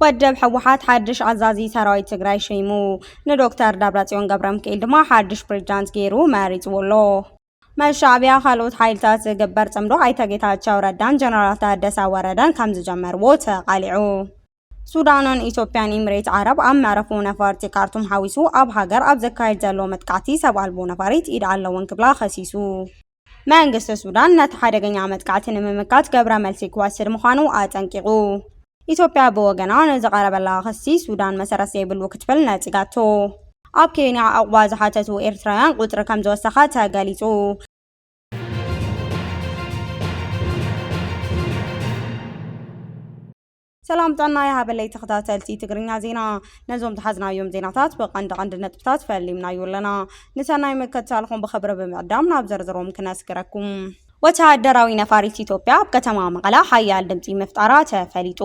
ወደብ ህወሓት ሓድሽ ኣዛዚ ሰራዊት ትግራይ ሸይሙ ንዶክተር ደብረፅዮን ገብረሚካኤል ድማ ሓድሽ ፕሬዝዳንት ገይሩ መሪፅዎ ኣሎ። ምስ ሻዕቢያ ካልኦት ሓይልታት ዝግበር ጽምዶ ኣይተ ጌታቸው ረዳን ጀነራል ታደሰ ወረደን ከም ዝጀመርዎ ተቓሊዑ። ሱዳንን ኢትዮጵያን ኢምሬት ዓረብ ኣብ መዕረፎ ነፈርቲ ካርቱም ሓዊሱ ኣብ ሃገር ኣብ ዘካየድ ዘሎ መጥቃዕቲ ሰብ ኣልቦ ነፋሪት ኢድ ኣለወን ክብላ ከሲሱ። መንግስቲ ሱዳን ነቲ ሓደገኛ መጥቃዕቲ ንምምካት ገብረ መልሲ ክወስድ ምዃኑ ኣጠንቂቑ። ኢትዮጵያ ብወገና ንዝቐረበላ ክሲ ሱዳን መሰረት ዘይብሉ ክትብል ነጺጋቶ። ኣብ ኬንያ ዕቑባ ዝሓተቱ ኤርትራውያን ቁጽሪ ከምዝወሰኸ ተገሊጹ። ሰላም ጥዕና ይሃበለይ ተኸታተልቲ ትግርኛ ዜና፣ ነዞም ዝሓዝናዮም ዜናታት ብቐንዲ ቀንዲ ነጥብታት ፈሊምናዮ ኣለና። ንሰናይ ምክትታልኹም ብኽብሪ ብምዕዳም ናብ ዝርዝሮም ክነስግረኩም። ወተሃደራዊ ነፋሪት ኢትዮጵያ ኣብ ከተማ መቐለ ሓያል ድምጺ ምፍጣራ ተፈሊጡ።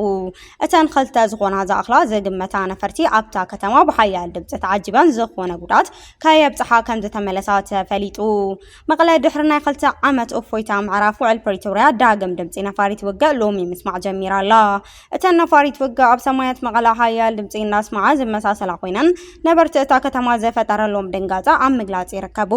እተን ክልተ ዝኾና ዝኣኽላ ዝግመታ ነፈርቲ ኣብታ ከተማ ብሓያል ድምጺ ተዓጂበን ዝኾነ ጉድኣት ከየብጽሓ ከምዝተመለሳ ተፈሊጡ። መቐለ ድሕሪ ናይ ክልተ ዓመት እፎይታ ምዕራፍ ውዕል ፕሪቶርያ ዳግም ድምጺ ነፋሪት ውግእ ሎሚ ምስማዕ ጀሚራ ኣላ። እተን ነፋሪት ፍግ ኣብ ሰማያት መቐለ ሓያል ድምፂ እናስመዓ ዝመሳሰላ ኮይነን ነበርቲ እታ ከተማ ዘፈጠረሎም ድንጋፀ ኣብ ምግላፅ ይርከቡ።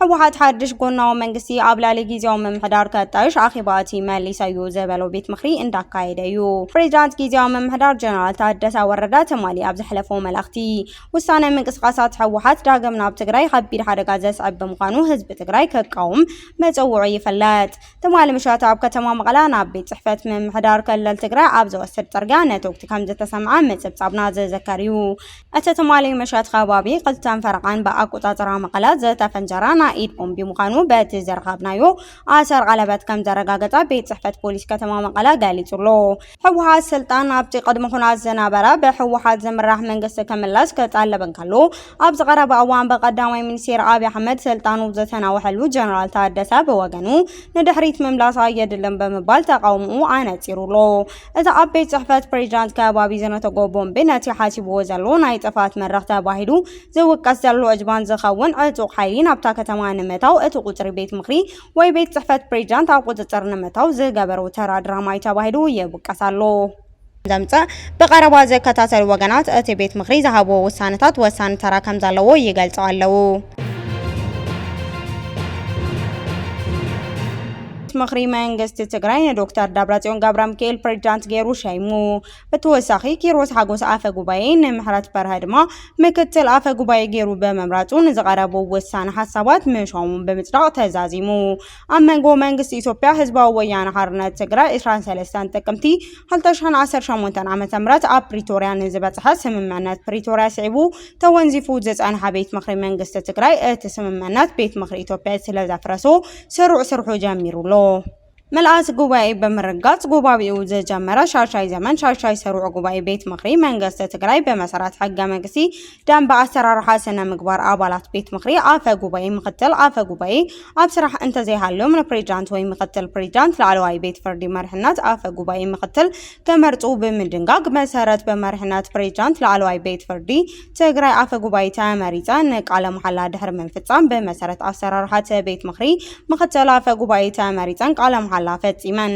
ህወሓት ሓድሽ ጎናዊ መንግስቲ ኣብ ልዕሊ ጊዜያዊ ምምሕዳር ከጣይሽ ኣኼባ እቲ መሊሰዩ ዝበሎ ቤት ምኽሪ እንዳካየደ እዩ። ፕሬዚዳንት ጊዜያዊ ምምሕዳር ጀነራል ታደሰ ወረደ ትማሊ ኣብ ዘሕለፎ መልእኽቲ ውሳነ ምንቅስቓሳት ህወሓት ዳግም ናብ ትግራይ ከቢድ ሓደጋ ዘስዕብ ብምዃኑ ህዝቢ ትግራይ ክቃወም መፀውዑ ይፍለጥ። ትማሊ ምሸት ኣብ ከተማ መቐለ ናብ ቤት ጽሕፈት ምምሕዳር ክልል ትግራይ ኣብ ዝወስድ ጽርግያ ነተጉቲ ከም ዝተሰምዐ ምጽብጻብና ዝዝከር እዩ። እቲ ትማሊ ምሸት ከባቢ ክልተን ፈረቓን ብኣቆጻጽራ መቐለ ዝተፈንጀረ ናይ ኢድ ቦምቢ ምዃኑ በቲ ዝረኸብናዮ ኣሰር ቀለበት ከም ዘረጋገጸ ቤት ጽሕፈት ፖሊስ ከተማ መቐለ ገሊጹ ኣሎ። ህወሓት ስልጣን ኣብቲ ቅድሚ ኩናት ዝነበረ ብህወሓት ዝምራሕ መንግስቲ ክምለስ ክጠልብ እንከሎ ኣብዚ ቀረባ እዋን ብቀዳማይ ሚኒስቴር ኣብዪ ኣሕመድ ስልጣኑ ዝተናወሐሉ ጀነራል ታደሰ ብወገኑ ንድሕሪት ምምላስ ኣየድልን ብምባል ተቃውምኡ ኣነፂሩ ኣሎ። እቲ ኣብ ቤት ፅሕፈት ፕሬዚዳንት ከባቢ ዝነተጎ ቦምቢ ነቲ ሓሲብዎ ዘሎ ናይ ጥፍኣት መድረኽ ተባሂሉ ዝውቀስ ዘሎ እጅባን ዝኸውን ዕጡቕ ሓይሊ ናብታ ከተማ ንምእታው እቲ ቁፅሪ ቤት ምኽሪ ወይ ቤት ጽሕፈት ፕሬዚዳንት ኣብ ቁጽጽር ንምእታው ዝገበሩ ተራ ድራማዩ ተባሂሉ ይውቀስ ኣሎ። ዘምጽእ ብቐረባ ዝከታተሉ ወገናት እቲ ቤት ምኽሪ ዝሃብዎ ውሳነታት ወሳኒ ተራ ከምዘለዎ ይገልጹ ኣለዉ። ምኽሪ መንግስቲ ትግራይ ንዶክተር ደብረጽዮን ገብረሚካኤል ፕሬዚዳንት ገይሩ ሸይሙ። ብተወሳኺ ኪሮስ ሓጎስ ኣፈ ጉባኤ ንምሕረት በርሀ ድማ ምክትል ኣፈ ጉባኤ ገይሩ ብምምራፁ ንዝቐረቡ ወሳኒ ሓሳባት ምሻሙ ብምፅዳቕ ተዛዚሙ። ኣብ መንጎ መንግስቲ ኢትዮጵያ ህዝባዊ ወያነ ሓርነት ትግራይ 23 ጥቅምቲ 2018 ዓ.ም ኣብ ፕሪቶርያ ንዝበፅሐ ስምምዕነት ፕሪቶርያ ስዒቡ ተወንዚፉ ዝፀንሐ ቤት ምኽሪ መንግስቲ ትግራይ እቲ ስምምዕነት ቤት ምኽሪ ኢትዮጵያ ስለዘፍረሶ ስሩዕ ስርሑ ጀሚሩ ኣሎ። ምልኣት ጉባኤ ብምርጋፅ ጉባቢኡ ዝጀመረ ሻሻይ ዘመን ሻሻይ ሰሩዕ ጉባኤ ቤት ምኽሪ መንገስቲ ትግራይ ብመሰረት ሕገ መንግስቲ ደንበ ኣሰራርሓ ስነ ምግባር ኣባላት ቤት ምኽሪ ኣፈ ጉባኤ ምክትል ኣፈ ጉባኤ ኣብ ስራሕ እንተዘይሃልዮም ንፕሬዚዳንት ወይ ምክትል ፕሬዚዳንት ላዕለዋይ ቤት ፍርዲ መርሕነት ኣፈ ጉባኤ ምክትል ክመርፁ ብምድንጋግ መሰረት ብመርሕነት ፕሬዚዳንት ላዕለዋይ ቤት ፍርዲ ትግራይ ኣፈ ጉባኤ ተመሪፀ ንቃለ መሓላ ድሕሪ ምፍፃም ብመሰረት ኣሰራርሓ እቲ ቤት ምኽሪ ምኽትል ኣፈ ጉባኤ ተመሪፀን ቃለ መሓላ ፈፂመን።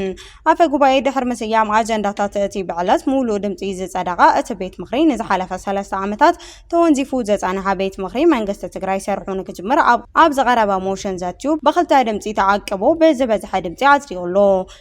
ኣፈ ጉባኤ ድሕሪ ምስያም ኣጀንዳታት እቲ ብዕለት ሙሉእ ድምፂ ዝፀደቐ እቲ ቤት ምኽሪ ንዝሓለፈ ሰለስተ ዓመታት ተወንዚፉ ዝፀንሐ ቤት ምኽሪ መንግስቲ ትግራይ ስርሑ ንክጅምር ኣብ ዝቐረበ ሞሽን ዘትዩ ብክልተ ድምፂ ተዓቂቡ ብዝበዝሐ ድምፂ ኣፅዲቑ ኣሎ።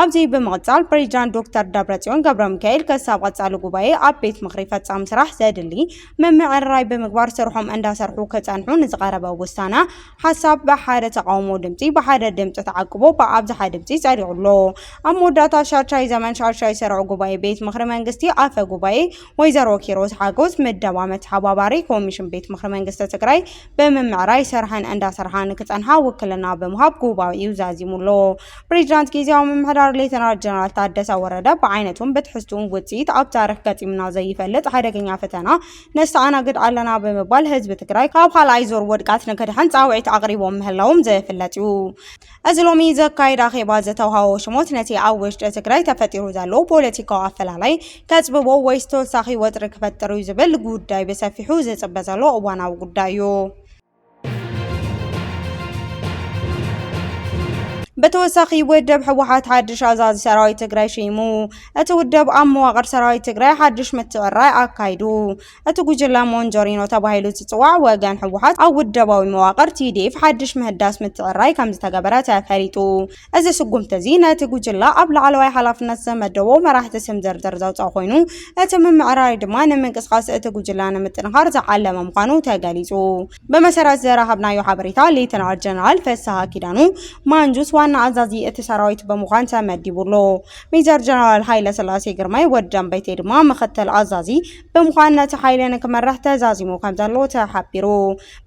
ኣብዚ ብምቕፃል ፕሬዚዳንት ዶክተር ደብረፅዮን ገብረሚካኤል ከሳብ ቐፃሊ ጉባኤ ኣብ ቤት ምኽሪ ፈፃሚ ስራሕ ዘድሊ ምምዕርራይ ብምግባር ስርሖም እንዳሰርሑ ክፀንሑ ንዝቐረበ ውሳነ ሓሳብ ብሓደ ተቓውሞ ድምፂ ብሓደ ድምፂ ተዓቅቦ ብኣብዝሓ ድምፂ ፀዲቑ ኣሎ። ኣብ መወዳእታ ሻድሻይ ዘመን ሻድሻይ ስሩዕ ጉባኤ ቤት ምኽሪ መንግስቲ ኣፈ ጉባኤ ወይዘሮ ኪሮስ ሓጎስ ምደባ መተሓባባሪ ኮሚሽን ቤት ምኽሪ መንግስቲ ትግራይ ብምምዕራይ ስርሐን እንዳሰርሓ ንክፀንሓ ውክልና ብምሃብ ጉባኤኡ ዛዚሙ ኣሎ። ፕሬዚዳንት ጊዜያዊ ምምሕዳር ሌተናል ጀነራል ታደሰ ወረደ ብዓይነቱን ብትሕዝቱን ውፅኢት ኣብ ታሪክ ገጢምና ዘይፈልጥ ሓደገኛ ፈተና ነስተኣናግድ ኣለና ብምባል ህዝቢ ትግራይ ካብ ካልኣይ ዙር ውድቀት ንክድሕን ፃውዒት ኣቕሪቦም ምህላዎም ዝፍለጥ እዩ። እዚ ሎሚ ዘካየድ ኣኼባ ዝተውሃቦ ሽሞት ነቲ ኣብ ውሽጢ ትግራይ ተፈጢሩ ዘሎ ፖለቲካዊ ኣፈላላይ ከፅብቦ ወይስ ተወሳኺ ወጥሪ ክፈጥር እዩ ዝብል ጉዳይ ብሰፊሑ ዝፅበ ዘሎ እዋናዊ ጉዳይ እዩ። ብተወሳኺ ውድብ ህወሓት ሓድሽ ኣዛዚ ሰራዊት ትግራይ ሸይሙ። እቲ ውድብ ኣብ መዋቕር ሰራዊት ትግራይ ሓድሽ ምትዕራይ ኣካይዱ። እቲ ጉጅለ ሞንጆሪኖ ተባሂሉ ዝፅዋዕ ወገን ህወሓት ኣብ ውደባዊ መዋቕር ቲዲኤፍ ሓድሽ ምህዳስ ምትዕራይ ከምዝተገበረ ተፈሊጡ። እዚ ስጉምቲ እዚ ነቲ ጉጅለ ኣብ ላዕለዋይ ሓላፍነት ዝተመደቡ መራሕቲ ስም ዝርዝር ዘውጽኣ ኮይኑ፣ እቲ ምምዕራይ ድማ ንምንቅስቓስ እቲ ጉጅለ ንምጥንኻር ዝዓለመ ምዃኑ ተገሊጹ። ብመሰረት ዝረኸብናዮ ሓበሬታ፣ ሌተናል ጀነራል ፍስሃ ኪዳኑ፣ ማንጁስ፣ ዋና ኣዛዚ እቲ ሰራዊት ብምዃን ተመዲቡ ኣሎ። ሜጀር ጀነራል ሃይለስላሴ ግርማይ፣ ወዲ ደምበይተይ፣ ድማ ምኽትል ኣዛዚ ብምዃን ነቲ ሓይሊ ንክመርሕ ተዛዚሙ ከምዘሎ ተሓቢሩ።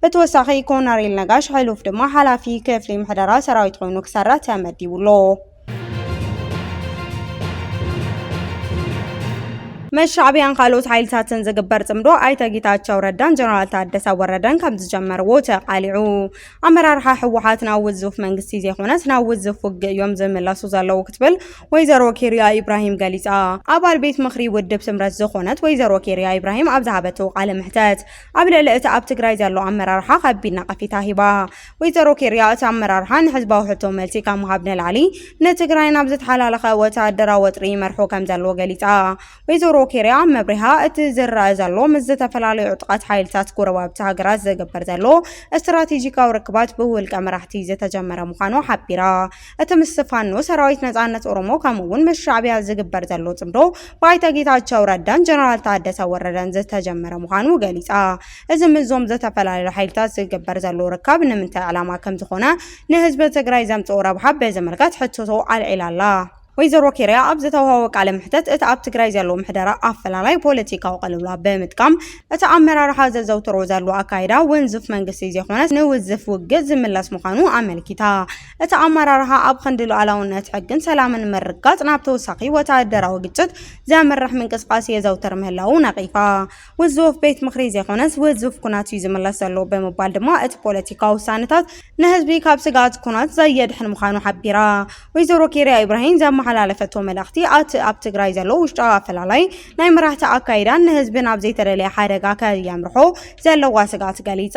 ብተወሳኺ ኮነሬል ነጋሽ ሕሉፍ ድማ ሓላፊ ክፍሊ ምሕደራ ሰራዊት ኮይኑ ክሰርሕ ተመዲቡ ኣሎ። ምስ ሻዕብያን ካልኦት ሓይልታትን ዝግበር ጽምዶ ኣይተ ጌታቸው ረዳን ጀነራል ታደሰ ወረደን ከም ዝጀመርዎ ተቓሊዑ። ኣመራርሓ ህወሓት ናብ ውዙፍ መንግስቲ ዘይኮነስ ናብ ውዙፍ ውግእ እዮም ዝምለሱ ዘለዉ ክትብል ወይዘሮ ኬርያ ኢብራሂም ገሊጻ። ኣባል ቤት ምኽሪ ውድብ ስምረት ዝኾነት ወይዘሮ ኬርያ ኢብራሂም ኣብ ዝሃበቶ ቃለ መሕተት ኣብ ልዕሊ እቲ ኣብ ትግራይ ዘሎ ኣመራርሓ ከቢድ ነቐፊታ ሂባ። ወይዘሮ ኬርያ እቲ ኣመራርሓ ንሕዝባዊ ሕቶ መልሲ ካብ ምሃብ ንላዕሊ ንትግራይ ናብ ዝተሓላለኸ ወተሃደራዊ ወጥሪ ይመርሖ ከምዘሎ ገሊጻ። ወይዘሮ ኬርያ ኣብ መብሪሃ እቲ ዝረኣ ዘሎ ምስ ዝተፈላለዩ ዕጡቓት ሓይልታት ጎረባብቲ ሃገራት ዝግበር ዘሎ ስትራቴጂካዊ ርክባት ብውልቀ መራሕቲ ዝተጀመረ ምዃኑ ሓቢራ። እቲ ምስ ፋኖ ሰራዊት ነጻነት ኦሮሞ ከምኡ'ውን ምስ ሻዕቢያ ዝግበር ዘሎ ጽምዶ ብኣይተ ጌታቸው ረዳን ጀነራል ታደሰ ወረደን ዝተጀመረ ምዃኑ ገሊጻ። እዚ ምስዞም ዝተፈላለዩ ሓይልታት ዝግበር ዘሎ ርካብ ንምንታይ ዕላማ ከምዝኾነ ንህዝቢ ትግራይ ዘምጽኦ ረብሓ ብዝምልከት ሕቶቶ ኣልዒላ'ላ። ወይዘሮ ኬርያ ኣብ ዝተውሃቦ ቃለ መሕተት እቲ ኣብ ትግራይ ዘሎ ምሕደራ ኣፈላላይ ፖለቲካዊ ቅልውላው ብምጥቃም እቲ ኣመራርሓ ዘዘውትሮ ዘሎ ኣካይዳ ውንዙፍ መንግስቲ ዘይኾነስ ንውዝፍ ውግእ ዝምለስ ምዃኑ ኣመልኪታ። እቲ ኣመራርሓ ኣብ ኽንዲ ሉኣላውነት፣ ሕግን ሰላምን ምርግጋፅ ናብ ተወሳኺ ወተሃደራዊ ግጭት ዘምርሕ ምንቅስቓስ የዘውትር ምህላዉ ነቒፋ። ውዙፍ ቤት ምኽሪ ዘይኮነስ ውዙፍ ኩናት እዩ ዝምለስ ዘሎ ብምባል ድማ እቲ ፖለቲካዊ ውሳነታት ንህዝቢ ካብ ስግኣት ኩናት ዘየድሕን ምዃኑ ሓቢራ። ወይዘሮ ኬርያ ኢብራሂም ዘመሓላለፈቶ መልእኽቲ ኣቲ ኣብ ትግራይ ዘሎ ውሽጣዊ ኣፈላላይ ናይ መራሕቲ ኣካይዳን ንህዝቢ ናብ ዘይተደለየ ሓደጋ ከየምርሖ ዘለዋ ስግኣት ገሊፃ።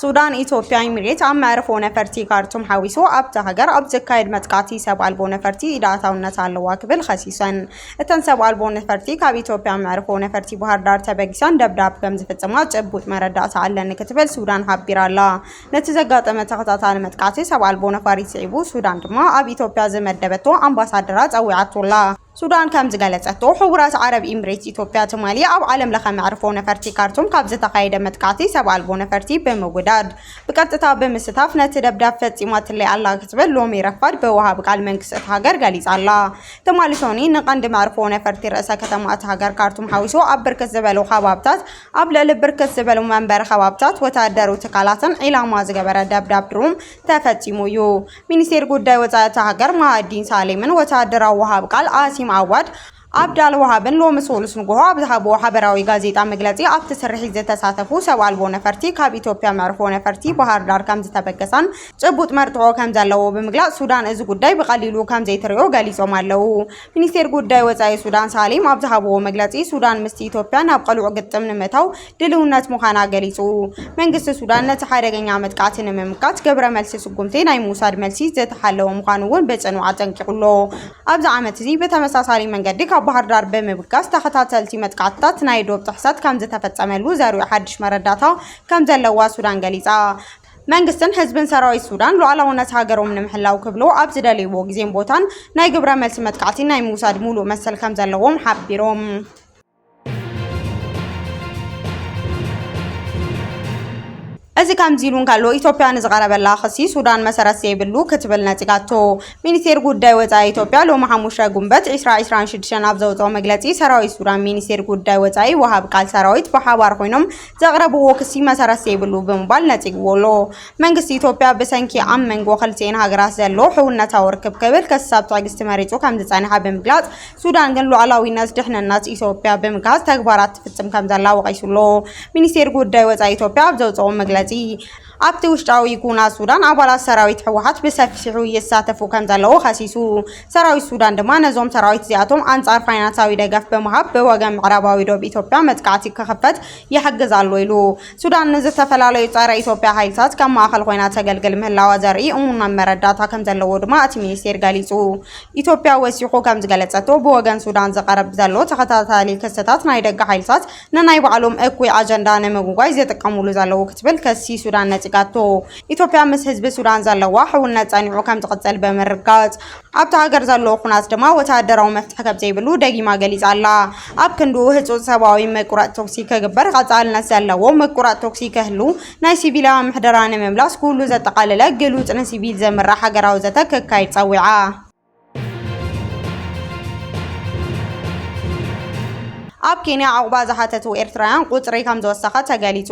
ሱዳን፣ ኢትዮጵያ ኢሚሬት ኣብ መዕርፎ ነፈርቲ ካርቱም ሓዊሱ ኣብታ ሃገር ኣብ ዝካየድ መጥቃዕቲ ሰብ ኣልቦ ነፈርቲ ኢድ ኣእታውነት ኣለዋ ክብል ኸሲሰን። እተን ሰብ ኣልቦ ነፈርቲ ካብ ኢትዮጵያ መዕርፎ ነፈርቲ ባህርዳር ተበጊሰን ደብዳብ ከምዝፍፅማ ጭቡጥ መረዳእታ ኣለኒ ክትብል ሱዳን ሓቢራ'ላ። ነቲ ዘጋጠመ ተኸታታሊ መጥቃዕቲ ሰብ ኣልቦ ነፋሪት ስዒቡ ሱዳን ድማ ኣብ ኢትዮጵያ ዝመደበቶ ኣምባሳደራ ፀዊዓቶ'ላ። ሱዳን ከም ዝገለጸቶ፣ ሕቡራት ዓረብ ኢምሬትስ ኢትዮጵያ ትማሊ ኣብ ዓለም ለኸ መዕርፎ ነፈርቲ ካርቱም ካብ ዝተኻየደ መጥቃዕቲ ሰብ ኣልቦ ነፈርቲ ብምውዳድ ብቀጥታ ብምስታፍ ነቲ ደብዳብ ፈጺማትለይ ኣላ ክትብል ሎሚ ረፋድ ብወሃቢ ቃል መንግስቲ እታ ሃገር ገሊጻ'ላ። ትማሊ ሶኒ ንቀንዲ መዕርፎ ነፈርቲ ርእሰ ከተማ እታ ሃገር ካርቱም ሓዊሱ ኣብ ብርክት ዝበሉ ከባብታት ኣብ ልዕሊ ብርክት ዝበሉ መንበሪ ከባብታት ወተሃደርዊ ትካላትን ዒላማ ዝገበረ ደብዳብ ድሮን ተፈጺሙ እዩ። ሚኒስቴር ጉዳይ ወፃኢ እታ ሃገር ማሃዲን ሳሌምን ወታደራዊ ወሃብ ቃል ኣሲም ኣዋድ ኣብዳል ወሃብን ሎሚ ሰሉስ ንጉሆ ኣብ ዝሃብዎ ሓበራዊ ጋዜጣ መግለፂ ኣብቲ ስርሒት ዝተሳተፉ ሰብ ኣልቦ ነፈርቲ ካብ ኢትዮጵያ መዕርፎ ነፈርቲ ባህርዳር ከምዝተበገሳን ጭቡጥ መርትዖ ከምዘለዎ ብምግላፅ ሱዳን እዚ ጉዳይ ብቐሊሉ ከምዘይትሪኦ ገሊፆም ኣለው። ሚኒስቴር ጉዳይ ወፃኢ ሱዳን ሳሌም ኣብ ዝሃብዎ መግለፂ ሱዳን ምስቲ ኢትዮጵያ ናብ ቐልዑ ግጥም ንምእታው ድልውነት ምዃና ገሊፁ። መንግስቲ ሱዳን ነቲ ሓደገኛ መጥቃዕቲ ንምምካት ግብረ መልሲ ስጉምቲ ናይ ምውሳድ መልሲ ዝተሓለወ ምዃኑ እውን ብፅኑዕ ኣጠንቂቑ'ሎ። ኣብዚ ዓመት እዚ ብተመሳሳሊ መንገዲ ካብ ባህርዳር ብምብጋስ ተኸታተልቲ መጥቃዕትታት ናይ ዶብ ጥሕሰት ከምዝተፈፀመሉ ዘርእዩ ሓድሽ መረዳእታ ከምዘለዋ ሱዳን ገሊፃ። መንግስትን ህዝብን ሰራዊት ሱዳን ሉዓላውነት ሃገሮም ንምሕላው ክብሉ ኣብ ዝደልይዎ ግዜን ቦታን ናይ ግብረ መልሲ መጥቃዕቲ ናይ ምውሳድ ሙሉእ መሰል ከምዘለዎም ሓቢሮም። እዚ ከምዚ ኢሉ እንከሎ ኢትዮጵያ ንዝቐረበላ ክሲ ሱዳን መሰረት ዘይብሉ ክትብል ነጺጋቶ። ሚኒስቴር ጉዳይ ወጻኢ ኢትዮጵያ ሎሚ ሓሙሻይ ጉንበት ዕስራ ዕስራን ሽዱሽተን ኣብ ዘውጽኦ መግለጺ ሰራዊት ሱዳን ሚኒስቴር ጉዳይ ወጻኢ ወሃቢ ቃል ሰራዊት ብሓባር ኮይኖም ዘቕረብዎ ክሲ መሰረት ዘይብሉ ብምባል ነጺግዎ ኣሎ። መንግስቲ ኢትዮጵያ ብሰንኪ ኣብ መንጎ ክልቲኤን ሃገራት ዘሎ ሕውነታዊ ርክብ ክብል ከሳብ ትዕግስቲ መሪጹ ከምዝጸንሐ ብምግላጽ፣ ሱዳን ግን ሉዓላዊነት ድሕንነት ኢትዮጵያ ብምግሃስ ተግባራት ትፍጽም ከምዘላ ወቒሱ ኣሎ። ሚኒስቴር ጉዳይ ወጻኢ ኢትዮጵያ ኣብ ዘውጽኦ መግለጺ፣ ኣብቲ ውሽጣዊ ኩናት ሱዳን ኣባላት ሰራዊት ህወሓት ብሰፊሑ ይሳተፉ ከምዘለዉ ከሲሱ። ሰራዊት ሱዳን ድማ ነዞም ሰራዊት እዚኣቶም ኣንጻር ፋይናንሳዊ ደገፍ ብምሃብ ብወገን ምዕራባዊ ዶብ ኢትዮጵያ መጥቃዕቲ ክኽፈት ይሕግዝ ኣሎ ኢሉ። ሱዳን ንዝተፈላለዩ ጸረ ኢትዮጵያ ሓይልታት ከም ማእከል ኮይና ተገልግል ምህላዋ ዘርኢ እሙን መረዳእታ ከምዘለዎ ድማ እቲ ሚኒስቴር ገሊጹ። ኢትዮጵያ ወሲኹ ከምዝገለጸቶ ብወገን ሱዳን ዝቐርብ ዘሎ ተኸታታሊ ክስታት ናይ ደገ ሓይልታት ንናይ ባዕሎም እኩይ ኣጀንዳ ንምጉጓይ ዝጥቀሙሉ ዘለዉ ክትብል ክሲ ሱዳን ነጺጋቶ። ኢትዮጵያ ምስ ህዝቢ ሱዳን ዘለዋ ሕውነት ጸኒዑ ከምዝቕጽል ብምርግጋጽ፣ ኣብታ ሃገር ዘሎ ኩናት ድማ ወተሃደራዊ መፍትሒ ከምዘይብሉ ደጊማ ገሊጻ ኣላ። ኣብ ክንድኡ ህጹጽ ሰብኣዊ ምቁራጽ ተኹሲ ክግበር፣ ቐጻልነት ዘለዎ ምቁራጽ ተኹሲ ክህሉ፣ ናይ ሲቪላውያን ምሕደራ ንምምላስ ኩሉ ዘጠቓለለ ግሉጽ ንሲቪል ዝምራሕ ሃገራዊ ዘተ ክካየድ ጸዊዓ። ኣብ ኬንያ ዑቕባ ዝሓተቱ ኤርትራውያን ቁጽሪ ከም ዝወሰኸ ተገሊጹ።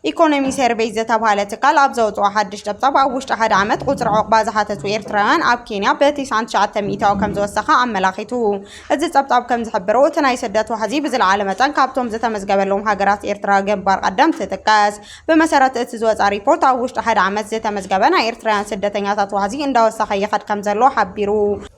ኢኮኖሚ ሰርቬይ ዝተብሃለ ትካል ኣብ ዘውጽኦ ሓድሽ ጸብጻብ ኣብ ውሽጢ ሓደ ዓመት ቁጽሪ ዑቕባ ዝሓተቱ ኤርትራውያን ኣብ ኬንያ ብቲስዓን ትሽዓተ ሚእታዊ ከም ዝወሰኸ ኣመላኺቱ። እዚ ጸብጻብ ከም ዝሕብሮ እቲ ናይ ስደት ዋሕዚ ብዝለዓለ መጠን ካብቶም ዝተመዝገበሎም ሃገራት ኤርትራ ግንባር ቀደም ትጥቀስ። ብመሰረት እቲ ዝወፅኣ ሪፖርት ኣብ ውሽጢ ሓደ ዓመት ዝተመዝገበ ናይ ኤርትራውያን ስደተኛታት ዋሕዚ እንዳወሰኸ ይኸድ ከምዘሎ ሓቢሩ።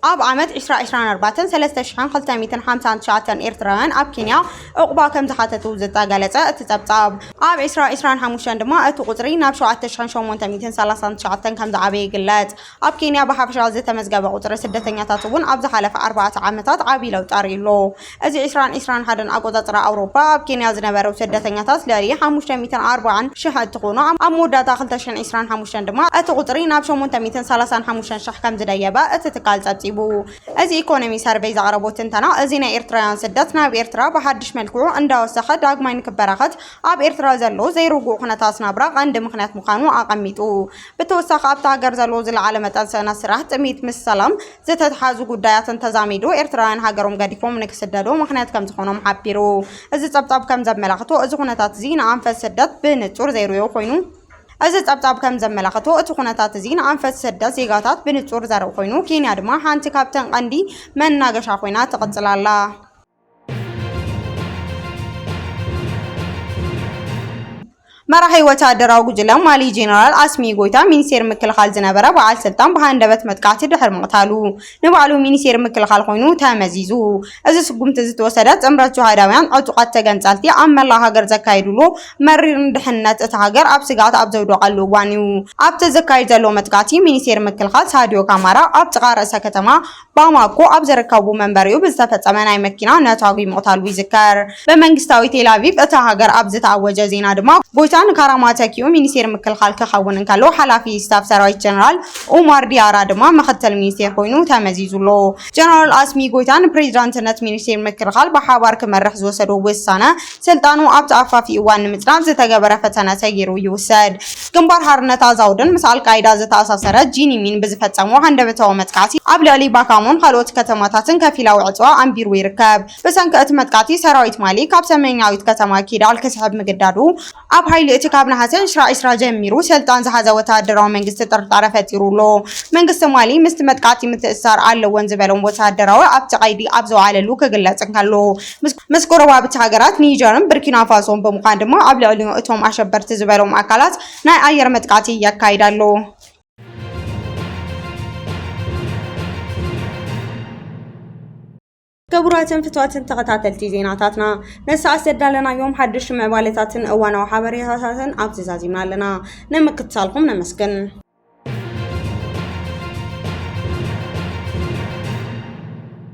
ኣብ ዓመት ዕስራ ዕስራን ኣርባዕተን ሰለስተ ሽሕን ክልተ ሚእትን ሓምሳን ትሽዓተን ኤርትራውያን ኣብ ኬንያ ዑቕባ ከምዝሓተቱ ዝተገለፀ እቲ ፀብፃብ፣ ኣብ ዕስራ ዕስራን ሓሙሽተን ድማ እቲ ቁፅሪ ናብ ሸውዓተ ሽሕን ሸሞንተ ሚእትን ሰላሳን ትሽዓተን ከምዝዓበየ ይግለፅ። ኣብ ኬንያ ብሓፈሻ ዝተመዝገበ ቁጽሪ ስደተኛታት እውን ኣብ ዝሓለፈ ኣርባዕተ ዓመታት ዓቢ ለውጢ ኣርእዩ ኣሎ። እዚ ዕስራን ዕስራን ሓደን ኣቆጻጽራ ኣውሮጳ፣ ኣብ ኬንያ ዝነበሩ ስደተኛታት ልዕሊ ሓሙሽተ ሚእትን ኣርባዓን ሽሕ እንትኾኑ፣ ኣብ መወዳእታ ክልተ ሽሕን ዕስራን ሓሙሽተን ድማ እቲ ቁጽሪ ናብ ሸሞንተ ሚእትን ሰላሳን ሓሙሽተን ሽሕ ከምዝደየበ እቲ ትካል ጸብጺቡ። እዚ ኢኮኖሚ ሰርቨይ ዘቕረቦ ትንተና፣ እዚ ናይ ኤርትራውያን ስደት ናብ ኤርትራ ብሓድሽ መልክዑ እንዳወሰኸ ዳግማይ ንክበራኸት ኣብ ኤርትራ ዘሎ ዘይርጉእ ኩነታት ናብራ ቀንዲ ምኽንያት ምዃኑ ኣቐሚጡ። ብተወሳኺ ኣብታ ሃገር ዘሎ ዝለዓለ መጠን ስእነት ስራሕ፣ ጥምየት ምስ ሰላም ዝተተሓሓዙ ጉዳያትን ተዛሚዱ ኤርትራውያን ሃገሮም ገዲፎም ንክስደዱ ምኽንያት ከምዝኾኖም ሓቢሩ። እዚ ጸብጻብ ከምዘመላኽቶ እዚ ኩነታት'ዚ ንኣንፈት ስደት ብንጹር ዘይርእዮ ኮይኑ፣ እዚ ጸብጻብ ከምዘመላኽቶ እቲ ኩነታት'ዚ ንኣንፈት ስደት ዜጋታት ብንጹር ዘርኢ ኮይኑ፣ ኬንያ ድማ ሓንቲ ካብተን ቀንዲ መናገሻ ኮይና ትቕጽል ኣላ። መራሒ ወተሃደራዊ ጉጅለ ማሊ ጀነራል ኣስሚ ጎይታ ሚኒስቴር ምክልኻል ዝነበረ በዓል ስልጣን ብሃንደበት መጥቃዕቲ ድሕሪ ምቕታሉ ንባዕሉ ሚኒስቴር ምክልኻል ኮይኑ ተመዚዙ። እዚ ስጉምቲ እዚ ዝተወሰደ ጥምረት ጅሃዳውያን ዕጡቓት ተገንጻልቲ ኣብ መላእ ሃገር ዘካየድሉ መሪር ንድሕንነት እታ ሃገር ኣብ ስግኣት ኣብ ዘውደቐሉ እዋን እዩ። ኣብቲ ዝካየድ ዘሎ መጥቃዕቲ ሚኒስቴር ምክልኻል ሳድዮ ካማራ ኣብ ጥቓ ርእሰ ከተማ ባማኮ ኣብ ዝርከቡ መንበሪኡ ብዝተፈጸመ ናይ መኪና ነታጒ ምቕታሉ ይዝከር። ብመንግስታዊ ቴል ኣቪቭ እታ ሃገር ኣብ ዝተኣወጀ ዜና ድማ፣ ጎይታ ንካራማ ተኪኡ ሚኒስቴር ምክልኻል ክኸውን እንከሎ፣ ሓላፊ ስታፍ ሰራዊት ጀነራል ኡማር ዲያራ ድማ ምኽትል ሚኒስቴር ኮይኑ ተመዚዙ ኣሎ። ጀነራል ኣስሚ ጎይታ ንፕሬዚዳንትነት ሚኒስቴር ምክልኻል ብሓባር ክመርሕ ዝወሰዶ ውሳነ፣ ስልጣኑ ኣብ ተኣፋፊ እዋን ንምጽናት ዝተገበረ ፈተነ ሰጊሩ ይውሰድ። ግንባር ሓርነት ኣዛውድን ምስ ኣልቃይዳ ዝተኣሳሰረ ጂኒሚን ብዝፈጸሞ ሃንደበታዊ መጥቃዕቲ ኣብ ልዕሊ ባካሞን ኻልኦት ከተማታትን ከፊላዊ ዕጽዋ ኣንቢሩ ይርከብ። ብሰንኪ እቲ መጥቃዕቲ ሰራዊት ማሊ ካብ ሰሜናዊት ከተማ ኪዳል ክስሕብ ምግዳዱ፣ ኣብ ሓይሊ እቲ ካብ ነሓሰ ዕስራ ዕስራ ጀሚሩ ሰልጣን ዝሓዘ ወተሃደራዊ መንግስቲ ጥርጣረ ፈጢሩ ኣሎ። መንግስቲ ማሊ ምስቲ መጥቃዕቲ ምትእስሳር ኣለዎን ዝበሎም ወተሃደራዊ ኣብቲ ቀይዲ ኣብ ዝወዓለሉ ክግለጽ እንከሎ፣ ምስ ጎረባብቲ ሃገራት ኒጀርን ብርኪናፋሶን ብምዃን ድማ ኣብ ልዕሊ እቶም ኣሸበርቲ ዝበሎም ኣካላት ናይ ኣየር መጥቃዕቲ የካይድ ኣሎ። ክቡራትን ፍትዋትን ተኸታተልቲ ዜናታትና ንሰዓት ዘዳለናዮም ሓድሽ ምዕባለታትን እዋናዊ ሓበሬታታትን ኣብዚ ዛዚምና ኣለና። ንምክትታልኩም ነመስግን።